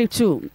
Two.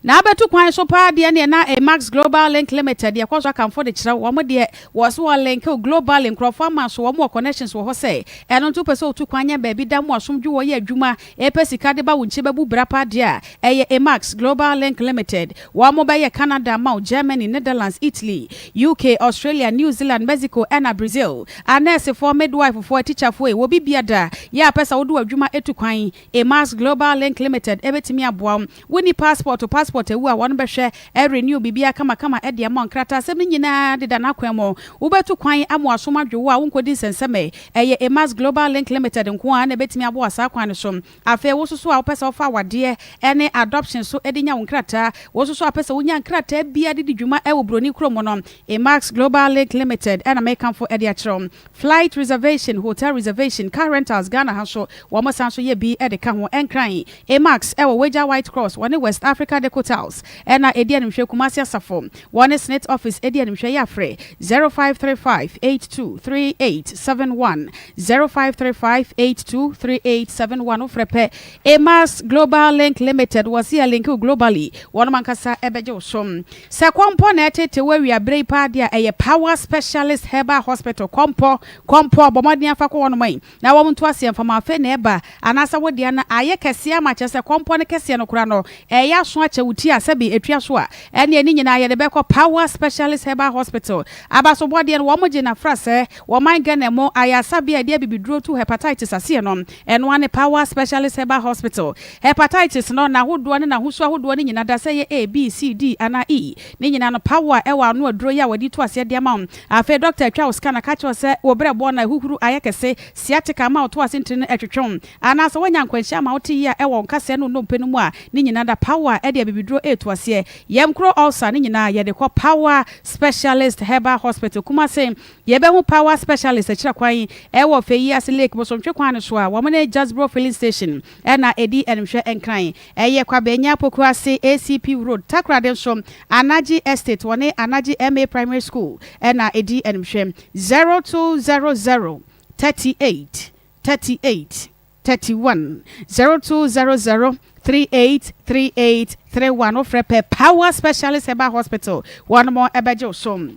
Na abɛto kwan so paa deɛ neɛ na Amax Global Link Limited deɛ ɛkɔ so akamfo de kyerɛ wɔn deɛ wɔ so wɔ link globally nkurɔfoɔ ama so wɔn wɔ connections wɔ hɔ sɛ ɛno nti wopɛ sɛ wotu kwan nyɛ baabi da mu asomdwo wɔ yɛ adwuma ɛpɛ sika de ba wo nkyi bɛbu bra paa deɛ a ɛyɛ Amax Global Link Limited wɔn bɛyɛ Canada ama wo Germany Netherlands Italy UK Australia New Zealand Mexico ɛna Brazil anɛɛsefoɔ midwife foɔ atikyafoɔ e wɔ bibia da yɛ a pɛ sɛ wode wɔ adwuma etu kwan Emma's Global Link Limited bɛtumi aboa wo. Wonni passport, wo passport awu a, wɔn bɛhwɛ, renew biribiara kamakama de ama wo. Nkrataasɛm no nyinaa deda n'akwan mu. Wobɛtu kwan ama w'asom adwo wo a wonkɔdi nsɛnsɛmee. Ɛyɛ Emma's Global Link Limited nko ara na ɛbɛtumi aboa wo saa kwan no so. Afei wo nso so a wopɛ sɛ wofa awadeɛ ne adoption so de nya wo nkrataa, wo nso so a wopɛ sɛ wonya nkrataa biara de di dwuma wɔ buroni kurom no, Emma's Global Link Limited na mekamfo de akyerɛ wo. Flight reservation, hotel reservation, car rentals Ghana ha nso wɔn san nso yɛ bi de ka ho. Nkran, Amax wɔ Wagya White Cross wɔne West Africa Deco Tiles na ɛdi animhwɛ Kumasi Asafo wɔne Snit Office di animhwɛ yɛ frɛ 0535823871 0535823871 wo frɛ pɛ Emas Global Link Limited wɔ se yɛ link wo globally, wɔnom ankasa bɛgye wo so. Sɛ kɔmpɔ na ɛtete wo awia berɛ yi paa deɛ a, ɛyɛ Power Specialist Herbal Hospital, Kɔmpɔ, Kɔmpɔ, bɔ mmɔden afa kɔ wɔnom ɛ, na wɔn nto aseɛ mfa ma afei na ɛba, anaasɛ wo deɛ no ayɛ kɛseɛ ama, kyerɛ sɛ kɔmpɔ no kɛseɛ no koraa no, ɛreyɛ aso akyɛ wo ti a sɛbe ɛtua so a, ɛneɛ ne nyinaa yɛde bɛkɔ Power Specialist Herbal Hospital. Abasobɔdeɛ no, wɔn gye no afra sɛ wɔman Ghana mu ayaresa bea a yɛde abibiduro tu Hepatitis aseɛ no. Ɛno ara ne Power Specialist Herbal Hospital. Hepatitis no, n'ahodoɔ ne n'ahosuo ahodoɔ no nyina da sɛ ɛyɛ A, B, C, D anaa E. Ne nyina no, Power ɛwɔ ano aduro yi a wɔde to aseɛ de ama wo. Afei dɔkta atwa wo scan aka akyerɛ wo sɛ wo berɛ bɔn na ahuhuru ayɛ kɛse, sciatica ama wo to ase ntini no ɛtwetwe wo. Anaa sɛ woanya nkwanhyia ama wo te yea ɛwɔ wo nkasɛɛ ne wo nnompe no mu a, ne nyina da, Power ɛde abibiduro reto aseɛ. Yɛm kuro ulcer no nyinaa yɛde kɔ Power Specialist Herbal Hospital, Kumasi. Yɛbɛhu Power Specialist akyira kwan wɔ Feyiase Lake bosontwe kwan no so a wɔn ne Jasbro Filling Station na ɛdi animhwɛ nkran. Ɛyɛ Kwabea Nyah Poku ase ACP Road, Takoradi nso Anagye Estate wɔne Anagye MA Primary School na ɛdi animhwɛ. Zero two zero zero thirty eight thirty eight thirty one zero two zero zero three eight three eight three one wofrɛ pɛ Power Specialist Herbal Hospital wɔn bɛgye wo so.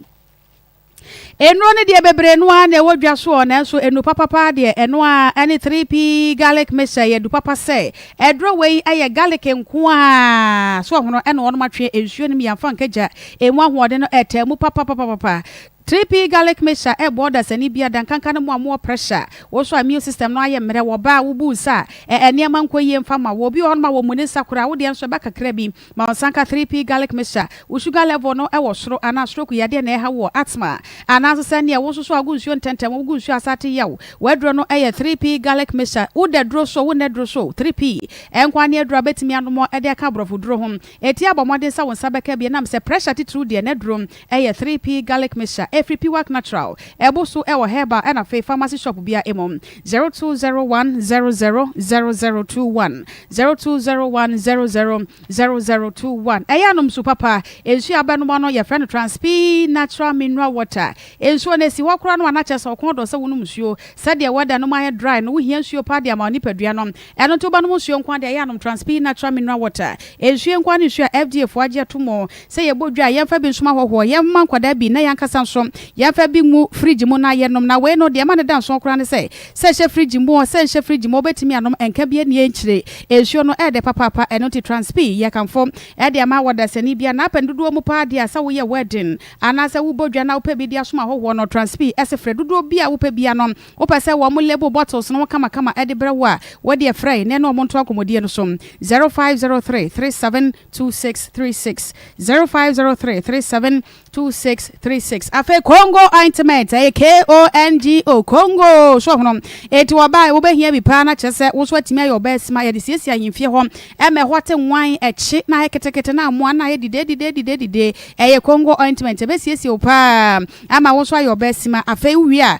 Nnuro no deɛ bebree no ara na ɛwɔ dwa soɔ nanso nnuro papa paa deɛ ɛno ara ɛne 3P garlic mix ɛyɛ adu papa sɛ ɛduro wei ɛyɛ garlic nko ara so ɔhono ɛna wɔnom atwe nsuo no mu yɛmfa nka gya ɛmu ahoɔden no ɛtaa mu papapapapa 3P garlic mix a ɛbɔ dasani bia dankanka no mu a mowɔ pressure wo nso a immune system no ayɛ mmerɛ wɔ baa wobu nsa a ɛɛ nneɛma nkɔ yie mfa ma wɔ obi wɔ hɔnom a wɔmmu ne nsa koraa wo deɛ nso ɛba kakra bi Ma ɔnsanka 3P garlic mixture. Wo sugar level no wɔ soro anaa stroke yadeɛ na ɛreha wo wɔ asthma anaa nso sɛ neɛ wo nso so a wogu nsuo ntɛntɛm wogu nsuo a sate yɛ wo. W'aduro no yɛ 3P garlic mixture. Wo da duro so o, wo nna duro so o, 3P nkoa ne aduro a bɛtumi anom de aka aborɔfo duro ho. Ɛtia bɔ mmɔden sɛ wo nsa bɛka bi ɛnam sɛ pressure titiriw deɛ n'aduro yɛ 3P garlic mixture. Ɛfiri Piwak Natural. Ɛbo so wɔ herbal ɛna afei pharmacy shop biara mu. Zero two zero one zero zero zero zero two one zero two zero one zero zero zero zero two one ɛyɛ anom su papa nsuo a abɛnom ano yɛfrɛ no transpee natural mineral water nsuo no esi hɔ koraa no anakyɛ sɛ ɔkɔn dɔ sɛ wonom nsuo sɛdeɛ wɛda nom ayɛ dry no wohia nsuo paa de ama onipadua no Ɛno nti wobɛnom nsuo nko ara deɛ ɛyɛ a nom Transpeyi Natural Mineral Water. Nsuo nko ara ne nsuo a FDA foɔ agye ato mu sɛ yɛbɔ dwa a yɛmfa bi nsom ahɔhoɔ, yɛmma nkwadaa bi na yɛn ankasa nso yɛmfa bi ngu fridge mu na yɛnom. Na wei no deɛ ɛma no da nsoɔ koraa ne sɛ, sɛ ɛhyɛ fridge mu oo, sɛ ɛnhyɛ fridge mu oo wobɛtumi anom, ɛnka bi ani nkyire. Nsuo no ɛyɛ dɛ papaapa, ɛno nti Transpeyi yɛkamfo de ama wɔdasani biara. Na apɛ no dodoɔ mu paa deɛ a sɛ woyɛ wedding anaasɛ wobɔ dwa na wopɛ bi de asom ahɔhoɔ no, Transpeyi se frɛ dodoɔ bi a wopɛ biara no Wopɛ sɛ wɔn label bottles no ho kamakama de brɛ wo a, wo deɛ frɛ yɛn na yɛne wɔn nto akɔmmɔdie no so. 0503 37 26 36 0503 37 26 36 Afei Kongo ointment, ɛyɛ KONGO, Kongo, so ɔhono. Enti wɔbae, wobɛhia bi paa na kyerɛ sɛ wo nso atumi ayɛ ɔbaasima. Yɛde siesie ahemfie hɔ, ɛma ɛhɔ te nwann, ɛkye, na ayɛ ketekete, na mmoa no ayɛ didedidedidedide. Ɛyɛ Kongo ointment, ɛbɛsiesie wo paa ama wo nso ayɛ ɔbaasima. Afei wowie a,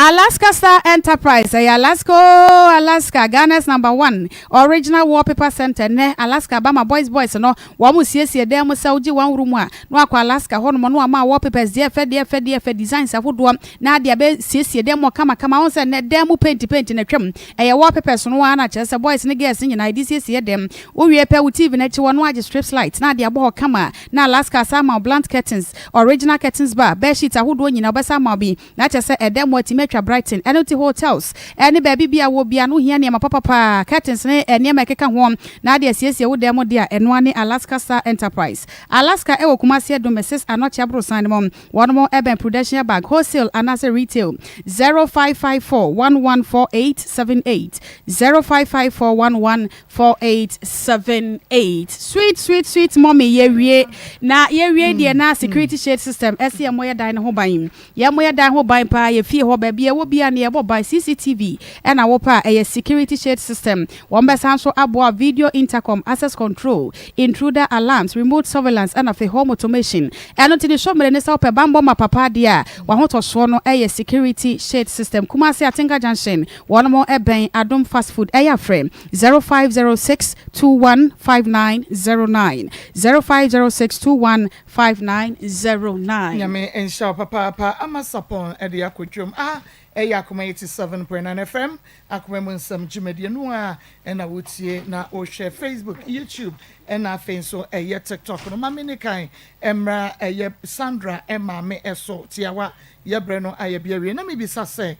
Alaska Star Enterprise, ɛyɛ Alaska oo Alaska, Ghana's number one original wallpaper center. Nnɛ, Alaska Bama Boys Boys no, wɔn siesie dan mu sɛ wogye wɔn woro mu a, na wakɔ Alaska hɔnom na wama wallpapers deɛ ɛfɛ deɛ ɛfɛ deɛ ɛfɛ, designs ahodoɔ, na ade abɛ siesie dan mu kama kama. Wɔn sɛ nnɛ dan mu paint paint na atwam, ɛyɛ wallpapers no ara na kyerɛ sɛ boys ne girls nyinaa ɛde siesie dan. Wowie pɛ, wo TV no akyi hɔ no agye strips lights na ade abɔ hɔ kama. Na Alaska asan ama wo blunt curtains, original curtains bar, bed sheets ahodoɔ nyinaa ɔbɛsan ama wo bi. Na kyerɛ sɛ ɛdɛ mu atumi atwa Brighton. Ɛno nti hotels ne baabi biaa wowɔ biaa no wohia nneɛma papa paa, curtains ne nneɛma ɛkeka ho na ade asiesie wo dan mu de a ɛnoa ne Alaska Star Enterprise. Alaska ɛwɔ Kumasi Adum Mrs Anokye aborosan no mu. Wɔnom ɛbɛn Prudential Bank, wholesale anaasɛ retail. 0554 114878, 0554 11 Four eight seven eight sweet sweet sweet mummy yɛwie na yɛwie deɛ na security shade system ɛsɛ yɛ moyɛ dan no ho ban yɛ moyɛ dan ho ban paa yɛ fie hɔ baabi ɛwɔ bia ne yɛbɔ ban CCTV ɛna wo paa ɛyɛ security shade system wɔn bɛsan so aboa video intercom access control intruder alarms remote surveillance ɛna fe home automation ɛno ti ne sɔ mmerɛ ne sɛ wopɛ banbɔ ma papa adeɛ a wahotɔsoɔ no ɛyɛ security shade system Kumasi Atenka Junction Wɔnom bɛn Adom fast food ɛyɛ a frɛ zero five zero six two one five nine zero nine zero five zero six two one five nine zero nine. Nyame nhyira wo papaapa ama sapon de akɔ dwom ah ɛyɛ akoma eighty seven point nine FM akoma mu nsɛm dwumadie no a ɛna wo tie na wo hwɛ Facebook YouTube ɛna afei nso ɛyɛ TikTok no ma me ni kan ɛmra ɛyɛ Sandra ɛmaame ɛso tiawa yɛbrɛ no ayɛ bi awie na me bisa sɛ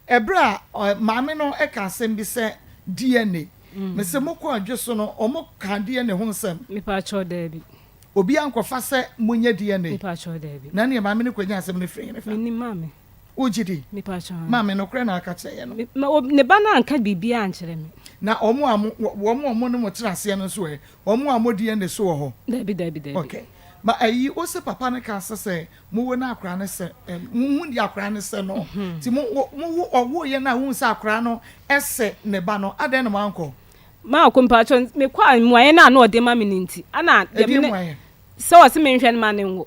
Ɛberɛ a maame no ka asɛm bi sɛ DNA, mese mokɔ adwo so no ɔmo kaa DNA ho nsɛm? Me paatwɔ daabi. Obiara nkɔfa sɛ monyɛ DNA. Me paatwɔ daabi. Na neɛ maame no kɔ nyaa asɛm no firi hene fa? Me nim maame. Wo gye di? Me paatwɔ haa. Maame nokorɛ na aka kyerɛ yɛ no? Me o ne ba no anka biribiara ankyerɛ me. Na ɔmo a mo wɔn a ɔmo ne mo tena aseɛ no nso ɛ? Ɔmo a mo DNA so wɔ hɔ? Daabi daabi daabi. Okay ma ayi wo se papa no kaa sɛ sɛ Mo wo no akora no sɛ ɛ, mo hu di akora no sɛ no. Ti mo wo, mo wo ɔwo yɛ no a wohu sɛ akora no ɛsɛ ne ba no, adɛn na mo ankɔ? Maako mpatsɔ, me kɔ a mmuaeɛ no a na ɔde ma me no nti, ana deɛ me ne, sɛ ɔse me nhwɛ no ma ne nwo,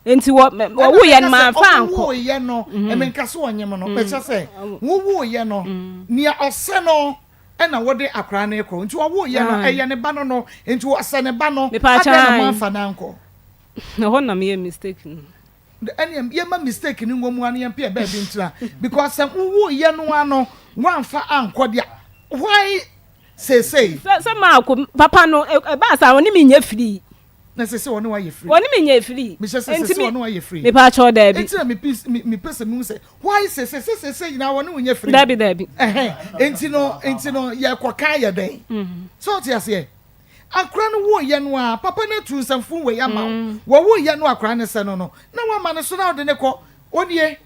nti wɔ, me, wɔ wo yɛ no ma nfa ankɔ. Ɔwo wo yɛ no, me nka sɛ ɔnye mo no, me kyɛ sɛ, wo wo yɛ no, nea ɔsɛ no ɛna wo de akora no kɔ, nti ɔwo yɛ no, ɛyɛ ne ba no no, nti ɔsɛ ne ba no, adɛn na mo anfa no ankɔ? Ɛhɔ na meyɛ mistake no. Ɛneɛ yɛma mistake no nwɔ mu a na yɛmpɛ baabi ntena because sɛ wowoeɛ no ara no woamfa ankɔ deɛ why seesei. Sɛ sɛ maako papa no ɛbaa saa ɔne me nyɛ free. Na sɛ sɛ ɔne wayɛ free. Ɔne me nyɛ free. Mehyɛ sɛ sɛ sɛ ɔne wayɛ free. Mepa akyɛw daabi. Enti na mepi mepɛ sɛ mehu sɛ why sɛ sɛ sɛ sɛ nyinaa ɔne wo nyɛ free. Daabi daabi. Ɛhɛn enti no enti no yɛkɔ kan yɛ dɛn. So ɔte aseɛ. Akora no woeɛ no ara, papa no atuu nsɛmfoo wei ama wo, Wɔwoeɛ no akora no sɛ no no, na woama no so na wode no kɔ, Wo nie,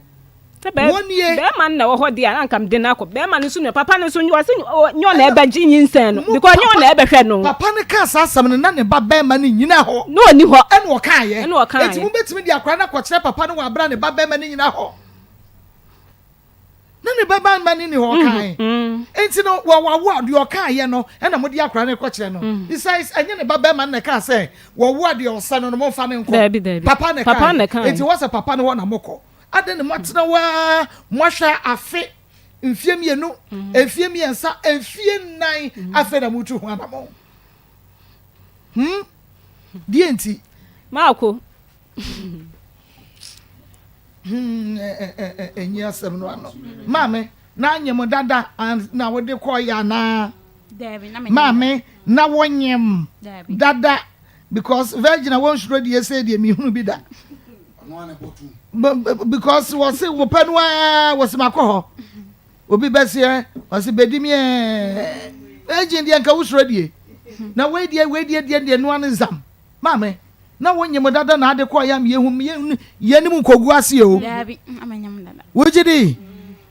Sɛ bɛ wo nie. bɛɛma no na ɛwɔ hɔ deɛ a, na anka mede no akɔ. Bɛɛma no nso nua, papa no nso nua, ɔse nyɛ ɔna ɛbɛgye nyinsɛn no, Mo because nyɛ papa ɔna ɛbɛhwɛ no. Papa no kaa saa asɛm no, na ne ba bɛɛma no nnyina hɔ. Na ɔnni hɔ. Ɛna ɔkaeɛ. Ɛna ɔkaeɛ. Enti mobɛtumi de akora no akɔkyerɛ papa no wɔ abere a ne ba bɛɛma no nnyina hɔ. na ne bɛba mma ne ni hɔ mhm, kan mhm. nti no wɔwawo a deɛ ɔkaayɛ no ɛna mode akora no kɔkyerɛ no mhm. besides ɛnyɛ ne ba bɛrima no na ɛkaa sɛ wɔwo a deɛ ɔsɛ no no momfa ne nkɔ papa na ɛkaayɛ nti wɔsɛ papa no hɔ na mokɔ adɛn ne moatena waa moahwɛ afe mfie mmienu mfie mmiɛnsa mfie nnan afei na motu ho anamɔ hmm? deɛ nti maako ɛnyi asɛm no ano maame na anyem dada na wode kɔɔyɛ anaa maame na wonyem dada because virgin a wɔnsuro deɛ sɛ deɛ mehunu bi da because wɔse wopɛ no a wɔse makɔ hɔ obi bɛseɛ wɔse bɛdi meɛ virgin deɛ nka wosuro deɛ na wei deɛ wei deɛ deɛ deɛ noa no nsam Maame, na wo nyem dada na ade kɔ yam yehu yenim nkogu ase o. Dabi, ama nyem dada. Wo gidi?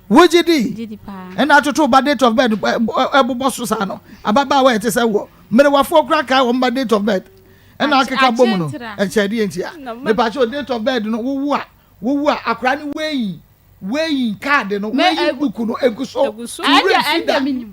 Wo gidi? Gidi pa. Ɛna atoto ba date of birth ɛbobɔ so saa no. Ababaa wa ɛte sɛ wɔ. Mmerewafoɔ kura kae wɔn ba date of birth. Ɛna akeka bom no. Ɛkyɛ deɛ nti a. Mepa kyɛ date of birth no wowu a wowu a akora ne weighing weighing card no weighing book no egu so. Ɛnde ɛnde minim.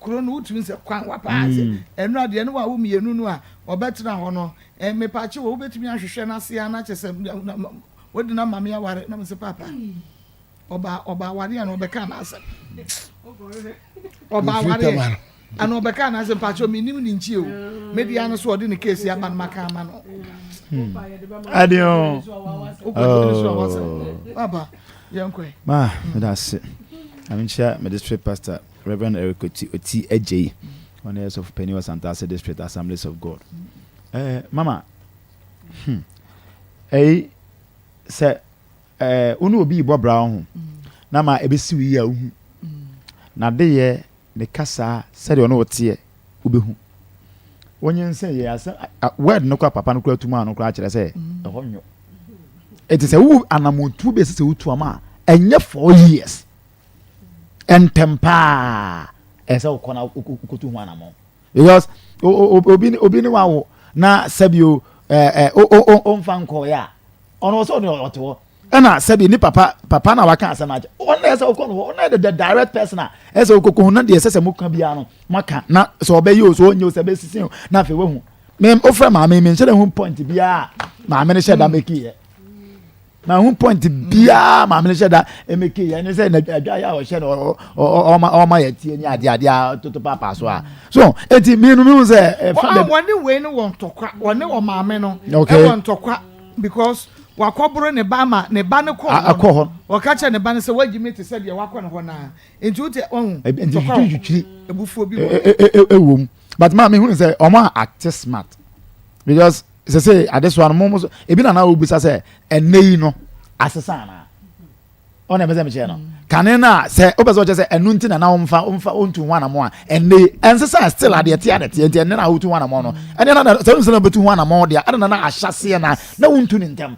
kuro no wotumi sɛ kwan wapa ase ɛno a deɛ ne wa wo mmienu no a ɔbɛtena hɔ no mepakye wɔ wobɛtumi ahwehwɛ no ase a na kyɛ sɛ wode no mame aware na mesɛ papa ɔba ɔba aware a na ɔbɛka no asɛm ɔba aware ana ɔbɛka no asɛm pakye menim ne nkyie o mede ano so ɔde ne kesi aba no maka ama no adeɛ o wokɔdene so a wasɛm papa yɛnkɔɛ ma meda ase amenkyia mede sɛ pastor Rev. Eric Oti Oti Adjei, ɔno yɛ sɔfo panyin wɔ Santase District Assemblies of God. Ɛɛ, mama, hmm, ɛyi, sɛ ɛɛ, wo ne obi rebɔ bra ho na ma ebesi wo yie a wohu. N'adeyɛ, ne kasa, sɛdeɛ ɔne wo teɛ, wobɛhu. Wonyinsɛn yɛ asɛm, word no kora papa no kora tum a no kora kyerɛ sɛ ɛhɔ nwo. Eti sɛ wo anamotuo bi a ɛsɛ sɛ wotu ama a, ɛnyɛ four years. ntɛm paa ɛyɛ sɛ wokɔ na wokotu ho anamɔ because obi obi ne wawo na sɛbio ɛɛ ɛɛ ɔmfa nkɔɔyɛ a ɔno ɔsɛ ɔno ɔte hɔ ɛna sɛbi ne papa papa na waka asɛm akyɛ ɔno na ɛsɛ ɔkɔ no hɔ ɔno yɛ the direct person a ɛsɛ ɔkɔkɔ ho na deɛ ɛsɛ sɛ mo ka biara no mo aka na sɛ ɔbɛyɛ o sɛ ɔnyɛ o sɛ ɛbɛsisi o na afei wahu mɛ ofura maame mi nhyɛ ne ho point biara maame ne hyɛ da mɛki yɛ. na ho point biara maame no hyɛ da ɛmɛ kee ɛne sɛ adwa yɛ a ɔhyɛ no ɔma ɔma yɛ tie ne adeɛ adeɛ a toto paapaa so a so eti mienu mi hu sɛ ɛfa bɛ. wɔn a wɔne wei no wɔ ntɔkwa wɔne wɔn maame no ɛwɔ ntɔkwa because wakɔboro ne ba ama ne ba no kɔ akɔ hɔ ɔka kyerɛ ne ba no sɛ wagyi mi te sɛ deɛ wakɔ ne hɔ naa nti o te ɔhu ntɔkwa wɔ ebufuo bi wɔ ɛwɔ mu but maa mi hu sɛ ɔmo a ate smart because. sɛ sɛ adesoa no mo mo so ebi na na wobisa sɛ ɛnɛ yi no asesa anaa ɔna ɛbɛ sɛ mekyerɛ no kane no a sɛ wopɛ sɛ ɔkyɛ sɛ ɛno nti na na womfa womfa wontu ho anamɔ a ɛnne ɛnsesa still adeɛ te adeɛ teɛ nti ɛnne na wotu ho anamɔ no ɛne na sɛ wonsɛ na wobɛtu ho anamɔ deɛ ɛne na na ahyɛseɛ na na wontu ne ntɛm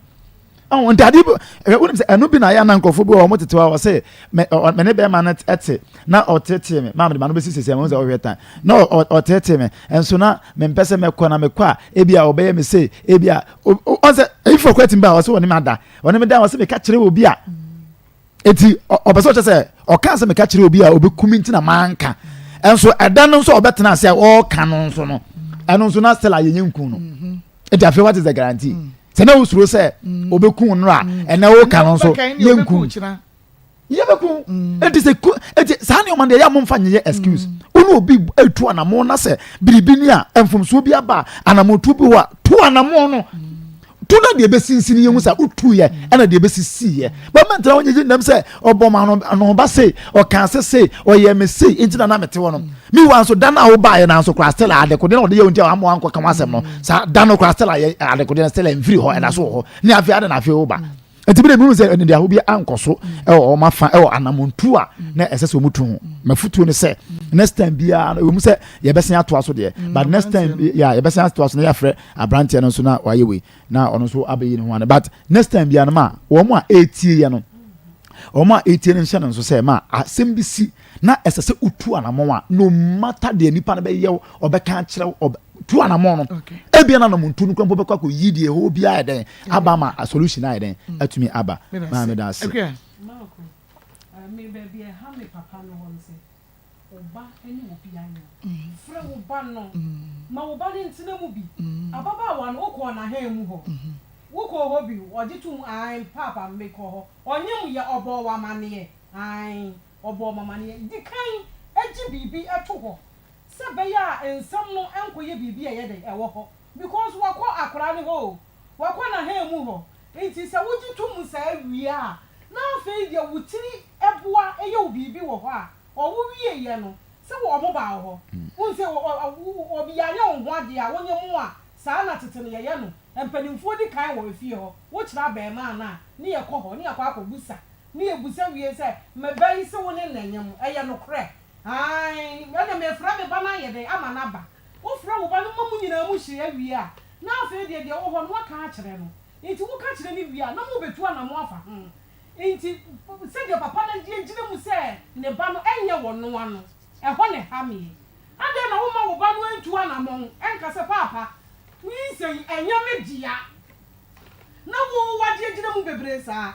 ɔn nti adeɛ bi ɛ wonim sɛ ɛno bi na ayɛ na nkurɔfoɔ bi wɔ wɔn tete hɔ a wɔsɛ mɛ ɔ mɛ ne bɛrima no ɛte na ɔteetee me maa mede ma no bɛsi sisi ɛmo sɛ ɔhwɛ tan na ɔ ɔteetee me nso na mempɛ sɛ mɛkɔ na mekɔ a ebi a ɔbɛyɛ me sei ebi a ɔsɛ eyifoɔ kɔ atim ba a ɔsɛ ɔne me ada ɔne me da ɔsɛ meka kyerɛ obi a eti ɔpɛ sɛ ɔkyɛ sɛ ɔka sɛ meka kyerɛ obi a ɔbɛkumi nti na manka ɛnso ɛda no nso ɔbɛtena ase a ɔɔka no nso no ɛno nso na stella yɛnyɛ nkun no. Mm -hmm. ɛti afei what is the guarantee mm. sɛ na wosuro sɛ mm. obɛku no a mm. ɛnɛ woka no nso yɛnku yɛbɛku ɛti sɛ ɛti saa nneɛma deɛ yɛ momfa nyeyɛ excuse wone obi atu anamo na sɛ biribi ni a mfomsoɔ bi aba anamotuo bi hɔ a to anamo no tu na deɛ ɛbɛsinsini yɛhu sɛ wotuyɛ ɛna deɛ ɛbɛsisiyɛ bɛmɛntena wonyegye nnam sɛ Ɔbɔɔ me ano anohoba sei, ɔkaa sɛ sei, ɔyɛɛ me sei, enti na na mete hɔ no. Meanwhile nso, da no a wobaeɛ no ara nso koraa Stella adekodeɛ na ɔde yɛ wo nti a wamma wankɔka ho asɛm no. Saa da no koraa Stella yɛ adekodeɛ no, Stella mfiri hɔ, ɛda so wɔ hɔ. Ne afei adɛn na afei woba? Enti me de mehunu sɛ anidaho bi ankɔ so wɔ wɔn afa wɔ anammɔntu a na ɛsɛ sɛ wɔtu ho. M'afotuo ne sɛ next time biara no ɛwɔ mu sɛ yɛbɛsan atoa so deɛ, but next time yeah, yɛbɛsan atoa so na yɛafrɛ aberanteɛ no nso na wayɛ wei. na ɔno nso abɛyi ne ho ano but next time biara no ma wɔn a ɛretie yɛ no wɔn a ɛretie no nhyɛ no nso sɛ ma asɛm bi si na ɛsɛ sɛ wotu anammɔn a no matter deɛ nipa no bɛyɛ wo ɔbɛka akyerɛ wo ɔbɛ tu anammɔn no ebia na nam ntu no kura mpo bɛkɔ akɔ yi deɛ ɛhɔ bi ayɛ dɛn aba ma a solution ayɛ dɛn mm. atumi aba maa mi da ase. Wo ba ne wo bi ayan. Frɛ wo ba no. Ma wo ba no ntena mu bi. Ababaawa no, wokɔɔ n'ahan mu hɔ? Wokɔɔ hɔ bi? Ɔgye toom, Aane, Paapa, mekɔ hɔ. Ɔnye wo yɛ? Ɔbɔɔ wo amanneɛ? Aane, ɔbɔɔ me amanneɛ. Di kan gye biribi to hɔ sɛ ɛbɛyɛ a nsɛm no nkɔyɛ biribi a ɛyɛ dɛ wɔ hɔ, because wakɔ akwadaa no hɔ o. Wɔkɔ n'ahanmu hɔ. Enti sɛ wogye to mu saa wie a, na afei deɛ wo tiri boa yɛ wo biribi wɔ hɔ a, ɔwo wieeɛ no, sɛ wɔn baa wo hɔ. Wohu sɛ ɔ, ɔ, ɔ, wo, obi yare a ɔnho adeɛ a, wonyɛ mu a, saa na tete no yɛyɛ no. Mpanimfoɔ di kan wɔ efie hɔ. Wokyerɛ abarimaa no a, ne yɛkɔ hɔ, ne yɛakɔ akɔbusa. Ne yɛbusa wie sɛ, Me ba yi, se wo ne no nyɛ mu? Ɛyɛ nokorɛ? Aane. Ɛnneɛ mefrɛ me ba no ayɛ dɛn? Ama no aba. Wofrɛ wo ba no ma mo nyinaa mo hyia wie a, Na afei deɛ, deɛ ɛwɔ hɔ no, woaka akyerɛ no. Enti woka kyerɛ no wie a, na mobɛtu anamo afa ho. Enti, sɛdeɛ papa no agye agyina mu sɛ ne ba no nyɛ wɔnoa no, ɛhɔ na ɛha meɛ. Adɛn na womma wo ba no ntu anamɔn nka sɛ, Paapa, nyinsɛn yi, ɛnyɛ me dea? Na wo, woagye agyina mu bebree saa.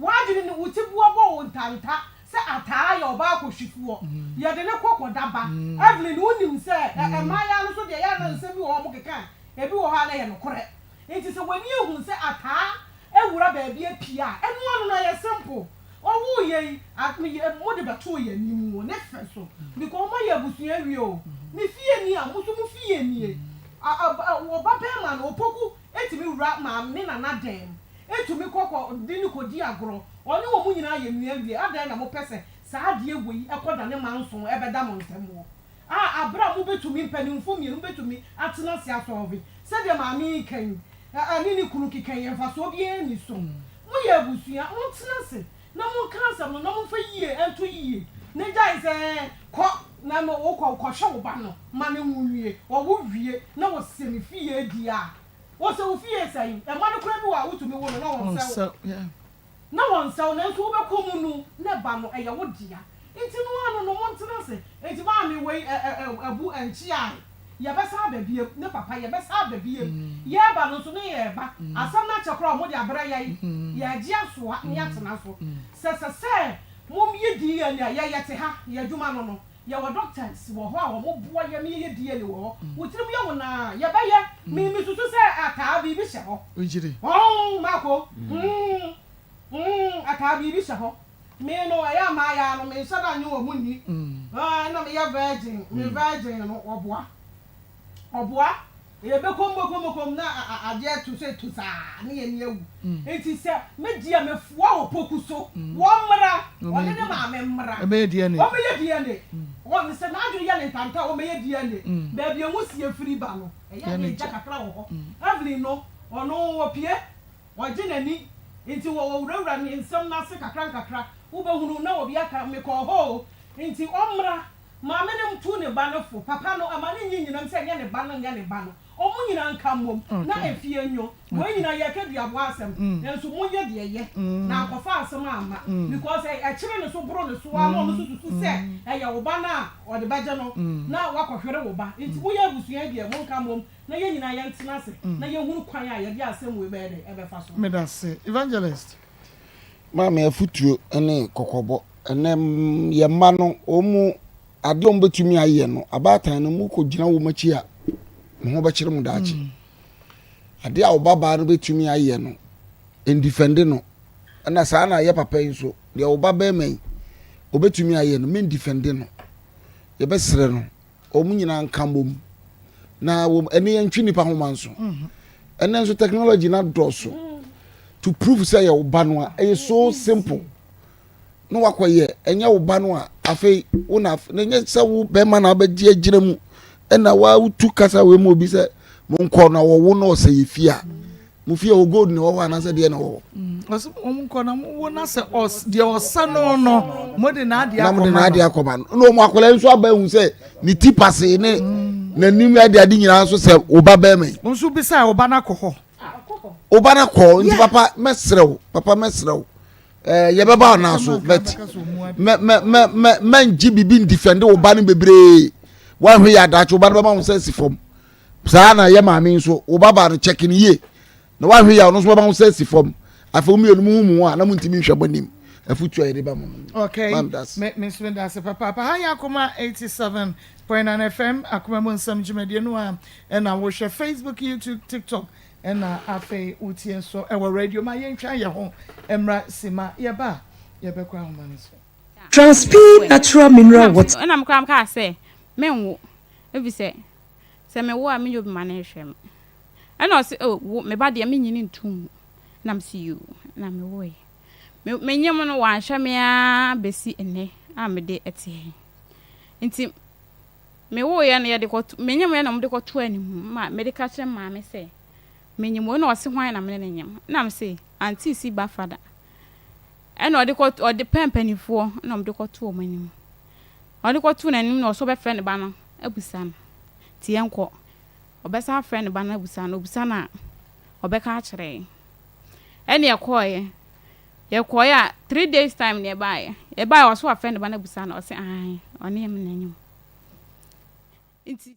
W'adwene ne wo tiboa bɔ wo ntanta sɛ ataa yɛ ɔbaa akɔhwifoɔ. Yɛde no kɔ kɔda ba. Evelyn, wonim sɛ ɛ, mmaayaa no so deɛ, ɛyɛ a na nsɛm bi wɔ hɔ a wɔkeka a, ebi wɔ hɔ a na ɛyɛ nokorɛ. Enti sɛ w'ani ahu sɛ ataa awura baabi apue a, ɛno ano no ɛyɛ simple. Ɔwoo yɛn yi, a, yɛ, mode bɛtoo yɛn anim o, ne fɛ so, because wɔma yɛn abusua awie o. Ne fie nie a, mo nso mo fie nie. A, a, a, ɔbabarima no, Opoku, Etumi wura maame ne nana dan mu. Etumi kɔ kɔ de no kodi agorɔ. Ɔne wɔn nyinaa yɛ nua wie. Adɛn na mopɛ sɛ saa adeɛ wɔ yi kɔdane manso ɛbɛda mo ntam wɔ a berɛ a mobɛtumi, mpanimfoɔ mmienu bɛtumi atena ase asɔlve sɛdeɛ maame yi reka yi? Ɛ, ɛ, ne ne kunu keka yi, mfasoɔ biara nni so. Moyɛ abusua, montena ase na monka asɛm no na momfa yie nto yie na gyae sɛ kɔ na no wokɔ kɔhwɛ wo ba no ma no nwo nwie ɔwo wie na wɔsɛ me fie die a wɔsɛ wo fie sɛn ɛma no koraa bi wɔ a wotumi wo no na wɔnsɛ wo na wɔnsɛ wo nanso wobɛkɔ mu no na ɛba no ɛyɛ wo dea Nti no ara no no montena ase. Enti maame wei ɛ ɛ ɛ abu ɛnkye ae. Yɛbɛsan aba biam. Ne papa, yɛbɛsan aba biam. Yɛreba no nso ne yɛreba. Asɛm no akyɛ koraa a wɔde abrɛ yɛn. Yɛregye asoa na yɛatena so. Sɛ sɛ sɛ moyɛ DNA a, yɛyɛ te ha. Yɛn adwuma no no, yɛwɔ doctors wɔ hɔ a wɔboa yɛn ma yɛyɛ DNA wɔ hɔ. Wo tirim yɛ wo naa? Yɛbɛyɛ. Me mesusu sɛ ataa biribi hyɛ hɔ. Ɔɔ, Marco. Humm, humm, ataa biribi hyɛ hɔ. Me no ɛyɛ a m'ayaa no me nhyɛda nye wɔn nni aa ɛna me yɛ virgin me virgin no ɔboa ɔboa yɛ bɛ kɔm bɔkɔm kɔm na adeɛ to so etu saa ne yɛ ni awu nti sɛ me deɛ me foa opoku so wɔn mra ɔne ne maame mra wɔn bɛ yɛ DNA wɔn me sɛ n'adwene yɛ ne ntanta wɔn bɛ yɛ DNA baabi a nwusie firi ba no ɛyɛ a na egya kakra wɔ hɔ Evelyn no ɔno opie Ɔgye n'ani nti wɔ wɔwurawura ne nsɛm no ase kakrankakra wobɛhunu na obi aka me kɔɔ hɔ o nti ɔmmra Maame no tu ne ba no fo Papa no ɛma no nyi nyinam sɛ nyɛ ne ba no nyɛ ne ba no ɔmo nyinaa nka mmom na efie nnwo Wei nyinaa yɛreka duaboa asɛm nanso monyɛ deɛ ɛyɛ na ankɔfa asɛm amma because ɛkyere ne so boro ne so ara na ɔno nso susu sɛ ɛyɛ wo ba no a ɔde bɛgye no na wakɔhwere wo ba nti moyɛ abusua yi deɛ monka mmom na yɛn nyinaa yɛntena ase na yɛnhunu kwan a yɛde asɛm wei bɛyɛ dɛn ɛbɛfa so. Medase Evangelist. Maame afutuo ne kɔkɔbɔ ɛnɛ yɛ mma no wɔn mu adeɛ wɔn bɛtumi ayɛ no abaatan no mu kɔ gyina wɔn akyi a mo ho bɛkyerɛ mo daakye mm. adeɛ a ɔbabaa no bɛtumi ayɛ no ndifɛnde no ɛna saa na ayɛ papa yi nso deɛ ɔba bɛrima yi ɔbɛtumi ayɛ no mendifɛnde no yɛbɛsrɛ no Wɔn nyinaa nka mmom. Na wɔn ani ntwe nnipa ho ma nso. Ɛnɛ nso technology no adɔɔso to prove sɛ yɛ wo ba no a ɛyɛ so simple na wakɔyɛ ɛnyɛ wo ba no a afei wo na na ɛnyɛ sɛ wo bɛrima na abɛgye agyina mu ɛna wotu kasa wei mu obi sɛ monkɔ na wɔwo na ɔsɛ yɛ fie a mo fie hɔ gold na ɛwɔ hɔ anaasɛ deɛ na ɛwɔ hɔ. Mm, ɔsɛ wɔn nkɔ na mo wɔ na sɛ ɔs deɛ ɔsɛ no no mo de n'adeɛ akɔma no. na mo de n'adeɛ akɔma no na wɔn akɔla nso aba ehu sɛ ne ti pase ne mm. n'anim ade ade nyinaa nso sɛ ɔba bɛrima yi. wɔn nso bisa ɔba n'akɔ hɔ. ɔba n'akɔ nti papa mɛsrɛ o papa mɛsrɛ o ɛɛ yɛbɛba ɔna so bɛt mɛ mɛ mɛ mɛ mɛ ngye bibi ndifɛnde ɔba no bebree wɔn ahwɛ yɛ adaakye ɔba no bɛma wɔn sɛ si fam. saa ara na yɛ maame nso wo babaa no kyɛke no yie na woahwɛ yɛ a ɔno nso bɛma wo sɛ si fam afei wo mmienu mu ho mu a na montumi nhwɛ mo anim afotu a yɛde ba mo no okay menso meda ase papaapa ha yɛ akoma 87.9 fm akoma mu nsɛm dwumadie no a ɛna wohwɛ facebook youtube tiktok ɛna afei wotie nso ɛwɔ radio ma yɛntwa yɛ ho mmra si ma yɛba a yɛbɛkɔ ahoma no so Transpeed natural mineral water. ɛna mekora mkaa sɛ menwo ɛfisɛ Sɛ mewo a, menyɛ obi ma no nhwɛ me. Ɛna ɔse, oh, wo, me ba deɛ, mennye no ntom mu. Ɛna mese, yoo, na mewoeɛ. Me, menyem no, wanhwɛ me ara bɛsi nnɛ a mede te he. Nti, mewoeɛ no, yɛde kɔto, menyemeɛ na wɔde kɔto animu ma mede ka kyerɛ maame sɛ, menyem o, na ɔse hwan na mene no nyem. Ɛna mese, auntie si ba fada. Ɛna ɔde kɔto, ɔde pɛ mpanimfoɔ na wɔde kɔto wɔn anim. Ɔde kɔtoo n'anim na ɔse ɔbɛfrɛ ne ba no abusa no nti yɛnkɔ. Ɔbɛsan afrɛ ne ba no abusa no, obusa no a ɔbɛka akyerɛ yɛn. Ɛne yɛkɔɔeɛ. Yɛkɔɔeɛ a three days time na yɛbaeɛ. Yɛbaeɛ a ɔse wafrɛ ne ba no abusa no, ɔse aane ɔne yɛn mmra anim. Nti.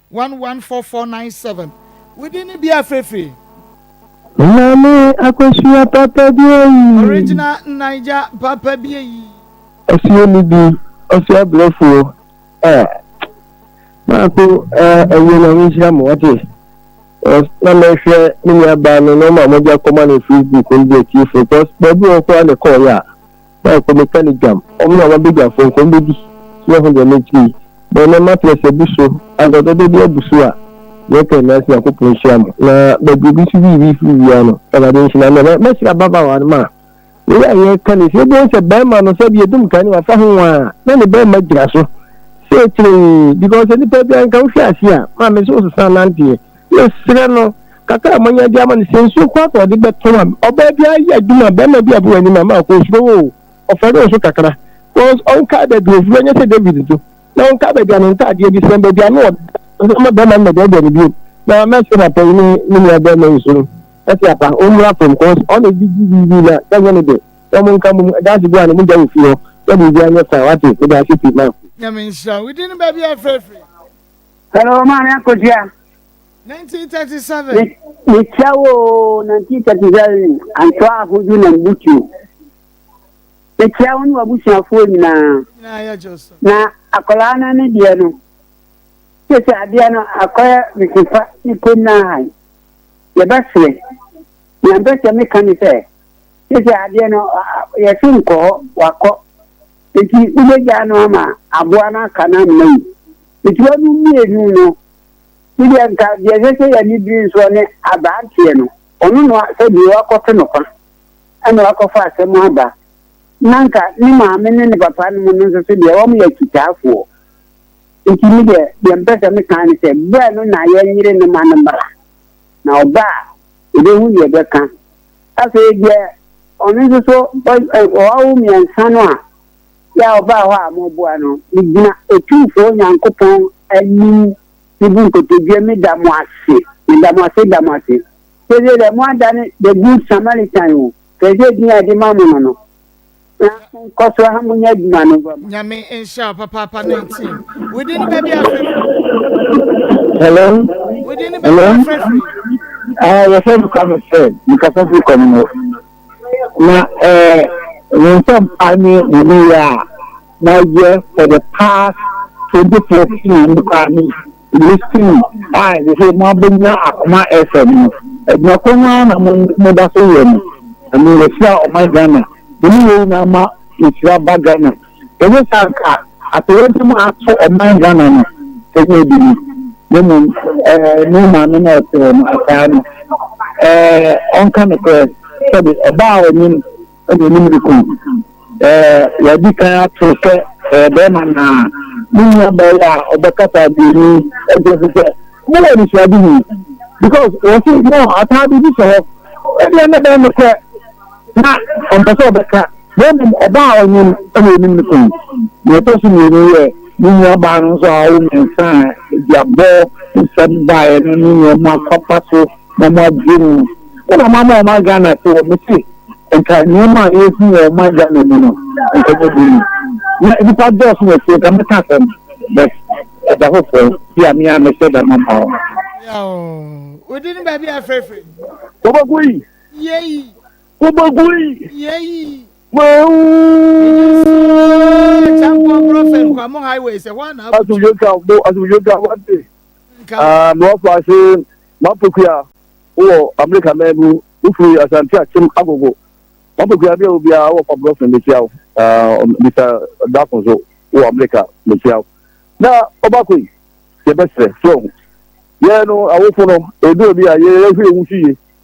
11497. Wo din ne bia firefire. Maame Akosua papa bi ayi. Original Naija papa bi ayi. Ɔsua ni bi ɔsua brɛfoɔ eh maako eh ɛyɛ na nhyira mo wate cause na mɛhwɛ me nua baa no na ɔma mogya kɔma no facebook no deɛ tiefo cause baabi wɔ koraa ne kɔɔ yɛ a na nkɔ meka no dwam, wɔn na wɔabɛdwafo, nkɔ mbedi, na ɛho deɛ mentumi. Bɛn na matress abu so, anka ɔdɔdɔ bi abu so a, deɛ ɛka nyinaa sɛ Nyankopɔn nhyira mo, na baabi obi nso wii wii firi wia no, Awurade nhyira no, na mɛhyira ababaawa no ma wei a yɛreka no, sɛ yɛbɛhu sɛ bɛrima no sɛ bi ɛdum kan no wafa ho a, na ne bɛrima gyina so, sɛ kyerɛɛ, because nipa bi anka wohwɛ ase a, maame sɛ ɔsesa nanteɛ, Mesrɛ no, kakra a manya de ama no, sɛ nsuo koraa na ɔde bɛtɔ ma me. Ɔbaa bi ayɛ adwuma, barima bi abɔ w'anim a, ma kɔ osuro wo o, ɔfɛre wo nso kakra. Cause ɔnkaa baabi ɔfiri, ɔnyɛ sɛ David nso. Na ɔnkaa baabi a ne ntaadeɛ bi sɛn, baabi a na ɔda, ɔnsan ma barima no mmɛdɛɛdɛɛ no bio. Na mɛsrɛ papa yi ne ne nua barima yi so no, mɛse apa, ɔmmra fam, cause ɔna ɛde di biribi na sɛ nyɛ ne dɛ. Na ɔmo nka mmom, ɛda ase bi a na mogya wɔ fie hɔ, na biribiara nyɛ fine, wate? Meda ase pii, Marko. Nyame nhyira wo din no baabi a yɛfrɛ firi. Hello, maame akosua. 1937. Mekyia wo 1937 antoa ahodu na mbutu. Mekyia wo ne w'abusuafoɔ nyinaa. Na akwadaa no ne deɛ no. Sese adeɛ no akɔyɛ mesefa ne kom no ahan. Yɛbɛsere. Nea mpɛ sɛ meka ne sɛ sese adeɛ no yɛse nkɔ hɔ wakɔ. Nti wobɛgyaa no ama aboa no aka no amena yi. Nketewa no mmienu no, ebia nka deɛ ɛsɛ sɛ yɛn ani bere nso ne aberanteɛ no. Ɔno na sɛ deɛ wakɔto no kwa na wakɔfa asɛm aba, na nka ne maame ne ne papa no mu no nso so deɛ wɔyɛ akyitaafoɔ. Nti me deɛ, deɛ mpɛ sɛ meka ne sɛ, berɛ no na yɛnyere no ma no mmra, na ɔba a, yɛbɛhu deɛ ɛbɛka. Afei deɛ ɔno nso so wawo mmiɛnsa no a, Yɛ a ɔbaa hɔ a moreboa no, megyina Otumfoɔ Nyankopɔn anim mebu nkotodwe meda mo ase, meda mo ase, da mo ase, sɛdeɛ deɛ moadane the good Samaritan o, hwɛ sɛ din a yɛde ma mo no no, na monkɔ so ha monyɛ adwuma no mfa ma. Nyame nhyira wo papaapa 19. Wo din ne baabi a frɛ firi? Hello? Wo din ne baabi a frɛ firi? Ah, yɛfrɛ me Kwame Fred, mekasa firi Komno. Na eh, wo nsɛm pa ne wo nneyɛɛ a na yɛ for the past twenty thirty years no koraa me listen a ɛsɛ sɛ mo abɛnya akoma ɛsɛ no no, adwuma korɔ no ara na mo mo da so yɛ no, na me yɛ hyira ɔman Ghana, me ne yɛn nyinaa ma yɛ hyira ba Ghana. Anyɛ saa a anka atoyerɛnkyɛm a ato ɔman Ghana no nyɛ bi ni, na mmom ɛɛ ne maame no a ɔtew no ataa no ɛɛ ɔnka nokorɛ sɛde ɔbaa a ɔnye no na onim de kum ɛɛ wadi kan ato sɛ ɛyɛ bɛrima naa ne nua bɛyɛ a ɔbɛkasa aduoni ɛgye nso sɛ mo wɔ anisoadehu because wɔsi no ataa biribi hyɛ hɔ ɛdeɛ na bɛyɛ nokorɛ. na ɔmpɛ sɛ ɔbɛka, na mmom ɔbaa a ɔnyem na onim no kɔn. Nea ɛtɔ so mmienu yɛ ne nuabaa no nso a ɔwɔ mmiɛnsa a aduabɔ nsɛm baeɛ no ne nea ɔmo akɔfa so na ɔmo agye no. Wo na moama ɔman Ghana te hɔ, mese nka nneɛma a ɛrehu wɔ ɔman Ghana mu no nka nyɛ duru mu. Na nnipa dɔɔso wɔ fie nka mɛka asɛm but ɛda hɔ fɔɔ bi a me ara mɛhyɛ da maba hɔ. Yaw! Wo din baabi a yɛfrɛfrɛ yi? Boboguy, Yei. Wobɛgu yi. Yei. Mawu. Champion Brofin Nkwamo Highway sɛ hɔ ana abutu. Asomdwe ka bo asomdwe ka wate. Nka. Ah, mewɔ fa ase mapokuya wɔ Amerika mɛn mu wofiri Asante Akyem Agogo. Mapokuya bi a obiara wɔ fa Brofin mekyia wo. Ah, Mr. Dako so wɔ Amerika mekyia wo. Na ɔbako yi yɛbɛsrɛ sɛ ɔho. Yɛ no awofo no edu obi a yɛhwɛ ewu so yie.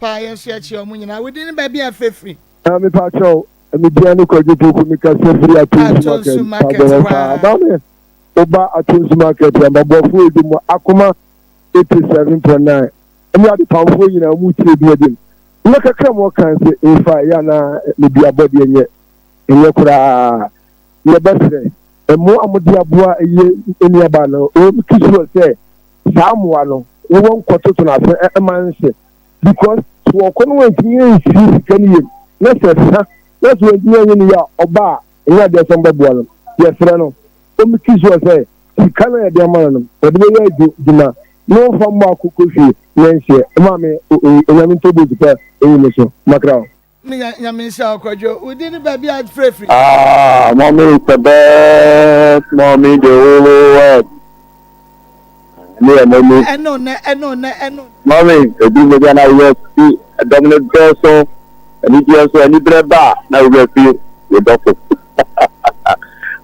paa yɛn nso yɛkyerɛ wɔn nyinaa wodi ne baabi a fefiri. na mepa kyɛw media ne kwadwo poku meka sɛ firi atonsu market paa ba me woba atonsu market ambaboafoɔ ɛdi mu akoma April seven point nine ɛne adepamfoɔ nyinaa mu tiri bi adim na kakra mu ɔkan sɛ nfa ɛyɛ anaa ne bi abɔdeɛ nyɛ ɛnyɛ koraa yɛbɛsrɛ mmoa a mode aboa ɛyɛ nnuaba no wɔn ki sure sɛ saa mmoa no wɔwɔ nkɔtoto no ase ɛma nhyɛ because sɛ wɔkɔ no wɔntumi nsi sika no yam na sɛ sa na sɛ wɔntumi anyɛ ne yɛ a ɔba a ɛnyɛ adeɛ sɛ mbɛboa no yɛsrɛ no wɔn ki sure sɛ sika no a yɛde ama no no wɔde bɛyɛ adwuma na wɔmfa mmɔ akoko fie nyɛ nhyeɛ mma me onyame ntɔ boot pa ɛyi me so makra o. Me nya nyame nhyira wo kwadwo wo din ne baabi a frɛ firi. Ah mommy is the best mommy the whole world ɛne yɛ mommy ɛne onɛ ɛne onɛ ɛne mommy ɛduru mogya na woyɛ fi ɛdɔm no dɔɔso anigyeɛ nso aniberɛ ba na woyɛ fi yɛdɔfo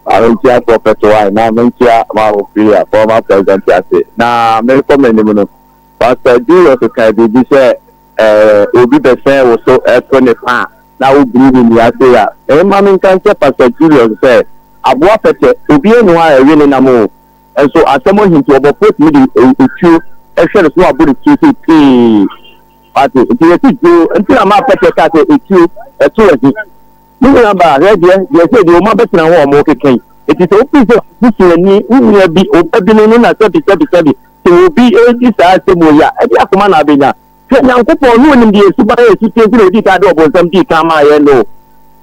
maame nkyia prɔfɛt wae maame nkyia maame filia fɔma president ase na merekɔ m'anim no pasta julius kae biribi sɛ eh, obi bɛsɛn wo so ɛto ne pa a na wobiri ne nua se a ɛma me nka nkyɛ pasta julius sɛ aboa pɛtɛ obi anu a ɛwe ne nam o nso asɛm ahinti ɔbɔfoɔ tumi de ɛtuo ɛhwɛ no so na wabɔ ne tuo sɛ pee ate nti yɛsi dwoo nti na maa pɛtɛ ka sɛ ɛtuo ɛto ahi Me nuabaa, hwɛ, deɛ, deɛ ɛsɛ deɛ wɔma bɛtena hɔ a wɔrekeka yi, enti sɛ wopii sɛ busuani, wo nua bi, ɔbabunu no na sɛbi, sɛbi, sɛbi, sɛ obi redi saa asɛm wei a, ɛdeɛ akoma na abɛnya? Hwɛ, Nyankopɔn, na Ɔnim deɛ suban a ɛso teɛ nti na Ɔdii kan de ɔbonsam dii kan maa yɛn no.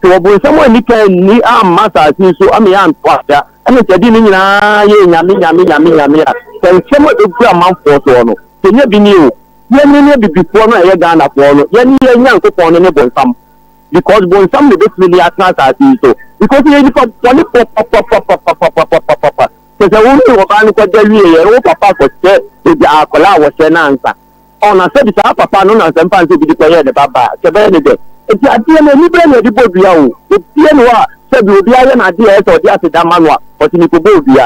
Sɛ ɔbonsam anni kan anni amma asase yi so ama yɛanto asa, ɛne sɛ ɛde ne nyinaa yɛ Nyame, Nyame, Nyame, Nyame a, sɛ nsɛm a ɛbɛgu amanfoɔ soɔ no, sɛ nya bi nie o, yɛne ne Abibifoɔ no a yɛyɛ Ghanafoɔ no, yɛne yɛn Nyankopɔn no ne bonsam. because bonsam na ebetumi de atena asase yi so because yɛyɛ nipa bɔne papapapapapapapapa kyerɛ wo ne ɔbaa no kɔda wie yɛ wo papa akɔhyɛ egya akwadaa a wɔhyɛ no ansa ɔna sɛbi saa papa no na nsɛmpa nsɛ bi de kɔyɛ ne ba baa kyɛ bɛyɛ ne dɛ nti adeɛ no anibere na yɛde bɔ dua o obiara ne hɔ a sɛbi obiara yɛ n'adeɛ a ɛsɛ ɔde aseda ma no a ɔte ne kɔbɔ dua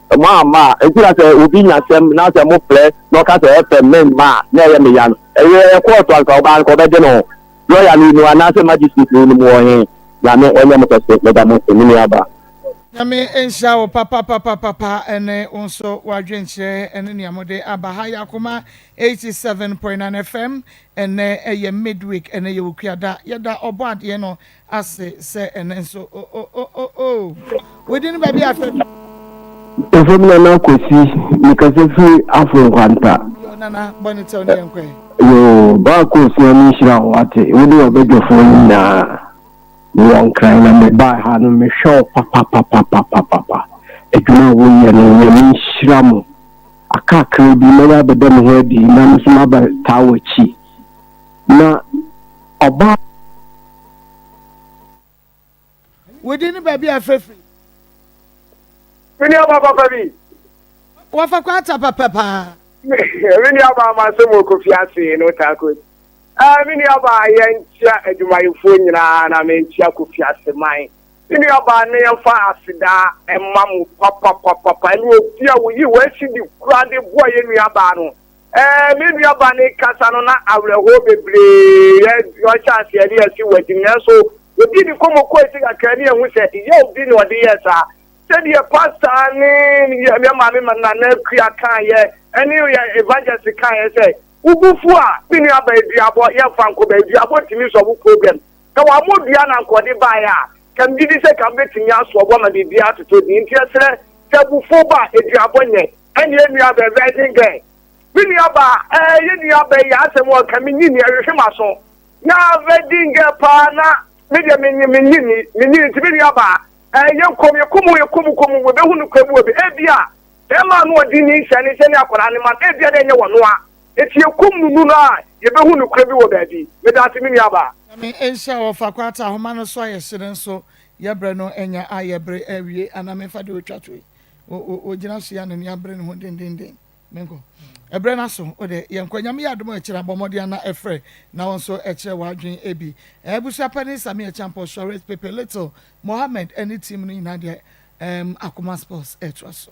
Mo a ma nti na sɛ obi nya asɛm na sɛ mofrɛ na ɔka sɛ ɛfɛ me mma a, na ɛyɛ me ya no? Ɛyɛ yɛ kɔɔto anka ɔbaa no ka ɔbɛgye ne ho. Lɔya no nim anaasɛ magistrate no nim wɔ he? Nyame ɔnyɛ mo kɛse, meda mo ase, me nuabaa. Nyame nhyira wo papapapapapa ɛne wo nso w'adwenkyerɛ ɛne nea mode aba ha yɛ akoma 87.9 FM ɛnɛ ɛyɛ midweek ɛnɛ yɛ okuada yɛda ɔbɔadeɛ no ase sɛ ɛnɛ nso o o o o o wodi no baabi afɛ bi. Efam nana kwesi mekasa firi afo nkwanta. Yo nana bɔ ne tɛw ne yɛn kɔɛ. Yo baako osia ne nhyira wo ate wo ne ɔbɛdwafoɔ no nyinaa mewɔ nkran na mebaa ha no mehwɛ wo papapapapapapa adwuma a woyɛ no nyame nhyira mo akakra bi mɛba abɛda me ho adi na me nso maba taa w'akyi. Na ɔbaa. Wo din ne baabi a fɛ firi. Me ni aba papa bi. Wɔfa kɔ ata papa paa. Me ni aba ama sɛ mo kɔ fi ase no taa kɔ. Ɛɛ me ni aba yɛn nkyia adwumayɛfoɔ nyinaa na me nkyia kɔ fi ase man. Me ni aba ne yɛn fa aseda ɛma mo papa papa papa ne obi a woyi wɔn asi di kura de boa yɛn nua baa no. Ɛɛ, me nua ba ne kasa no na awerɛhoɔ bebree yɛ ɔhyɛ aseɛ ne ɛsi wɔ akyim nanso ɔdi ne kɔmɔ kɔ akyi kakra ne ɛhu sɛ yɛ obi na ɔde yɛ saa sɛdeɛ pasta ne yɛ maame ma nana kua kan yɛ ɛne yɛ evangelist kan yɛ sɛ wobufu a me nua ba aduabɔ yɛ fa nkɔ ba aduabɔ tumi sɔ wo problem sɛ wɔn mo dua na nkɔde baeɛ a kam gidi sɛ kam bɛtumi asoɔ bɔ ma biribi atotɔ di nti ɛserɛ sɛ bufu ba aduabɔ nyɛ ɛne yɛn nua bɛ virgin girl me nua ba ɛɛ yɛn nua bɛ yɛ asɛm wɔ ka me nyi ni ɛhwehwɛ ma so na virgin girl paa na me deɛ me nyi me nyi ni me nyi nti me nua ba ɛɛ yɛ nkɔm yɛ kɔm yɛ kɔm kɔm wɔ bɛ hu no kɔ ebi wɔ bi ebi a bɛrima no ɔdi ni nhyɛ ne nhyɛ ne akwadaa ne ma no ebi a na ɛnyɛ wɔ noa eti yɛ kɔm nunu no a yɛ bɛ hu no kɔ ebi wɔ baabi me da ase me nua ba. Nyame nhyira wɔ fa kwata ahoma no so a yɛhyere nso yɛbrɛ no anya a yɛbre awie anaa memfa deɛ ɔtwa to yi Ogyina so yɛ n'ani abere ne ho dendeenden. Menkɔ? Ɛberɛ no aso. O de, yɛnkɔ. Nyame yɛ adom a, ɛkyɛre a, bɔ mmɔden a, na ɛfrɛ, na wo nso ɛkyerɛ w'adwene ebi. Ɛɛ, abusua panin Sammy Acheampong, Suarez, Pepe, Little, Mohammed, ɛne team no nyinaa deɛ, ɛɛm, Akoma Sports ɛretoa so.